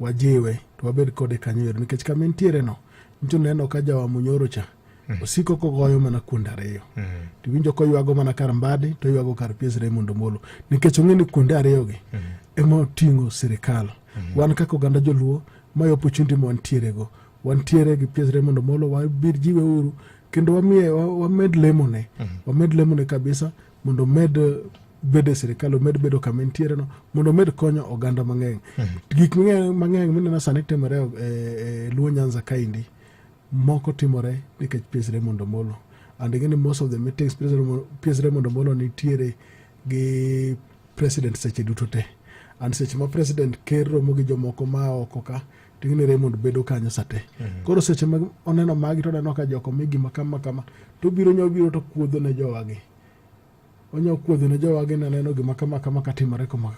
wajiwe to wabed kode kanyo ero nikech kama entiere no ncho neno ka jawa munyoro cha mm. osiko kogoyo mana kuond ariyo mm. to winjo koywago mana kar mbadi to oywago kar pies Raymond Omolo nikech ong'e ni kuonde ariyogi mm. ema oting'o sirikal mm. wan kaka oganda joluo mayo opportunity ma wantierego wantiere gi pies Raymond Omolo wabir jiwe uru kendo wamiye wamed lemone mm. wamed lemone kabisa mondo omed bedo e sirikal omed bedo kama entiere no mondo omed konyo oganda mang'eny mhm. gik mang'eny mineno sani timore e, e luo nyanza kaendi moko timore nikech PS Raymond Omolo and ing'e ni most of the meetings PS Raymond Omolo nitiere gi president seche duto te and seche ma president ker romo gi jomoko ma oko ka to ing'e ni Raymond bedo kanyo sa te. Mhm. Koro seche ma oneno magi to oneno ka joko mi gima kama kama to obiro nya obiro to kuodho ne jowagi. Onya kuodho ne jowagi ne neno gima kama kama ka timore kama.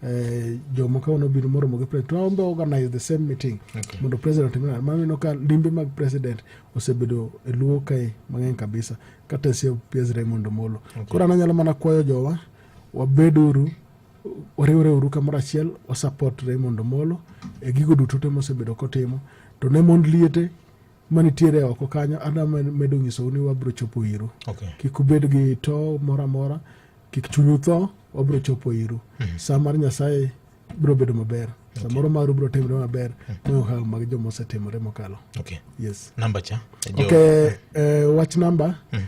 Eh, jomo ka ono biro moromo gi president waombe organize the same meeting okay. mondo president otimna maneno ka limbe mag president osebedo e luo kae mang'eny kabisa kata sie pies Raymond Omolo okay. koro ananyalo mana kwayo jowa wabeduru wariwore uru kamoro achiel wasupport Raymond Omolo e gigo duto te mosebedo kotimo to ne mond liete manitiere oko kanyo adwa medo nyisou ni wabiro chopo iru okay. kik ubed gi to moro amora kik chunyu tho wabiro chopo iru mm -hmm. saa mar nyasaye biro bedo maber okay. samoro maru biro timre maber mm -hmm. moyo hawo mag joma osetimore mokalo okay. yes. namba cha okay. uh, wach namba mm -hmm.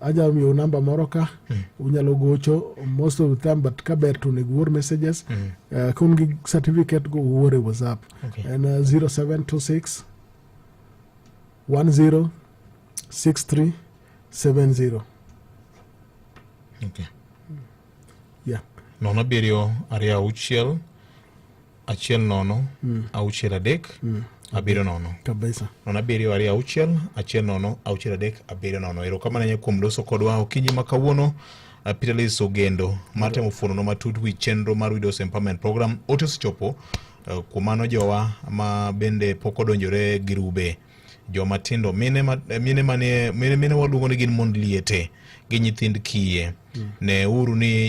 aja miyo namba moro ka mm. unyalo gocho most of the time but ka ber to onego uor messages mm. uh, kun gi certificate go uor e whatsapp okay. en uh, 0726 10 63 70 okay. yeah. nono abiriyo ariyo auchiel achiel nono mm. auchiel adek mm. abiriyo nono kabisa nono abiriyo ariyo auchiel achiel nono auchiel adek abiriyo nono erokamano ahinya kuom loso kodwa okinyi ma kawuono uh, Peter Liz Ogendo mar temo fuonono matut wi chenro mar Widows Empowerment Program ote osechopo uh, kuom mano jowa ma bende pok odonjore girube joma tindo mine ma, eh, mine mane mine, mine waluongo ni gin mond liete gi nyithind kiye mm. ne uru ni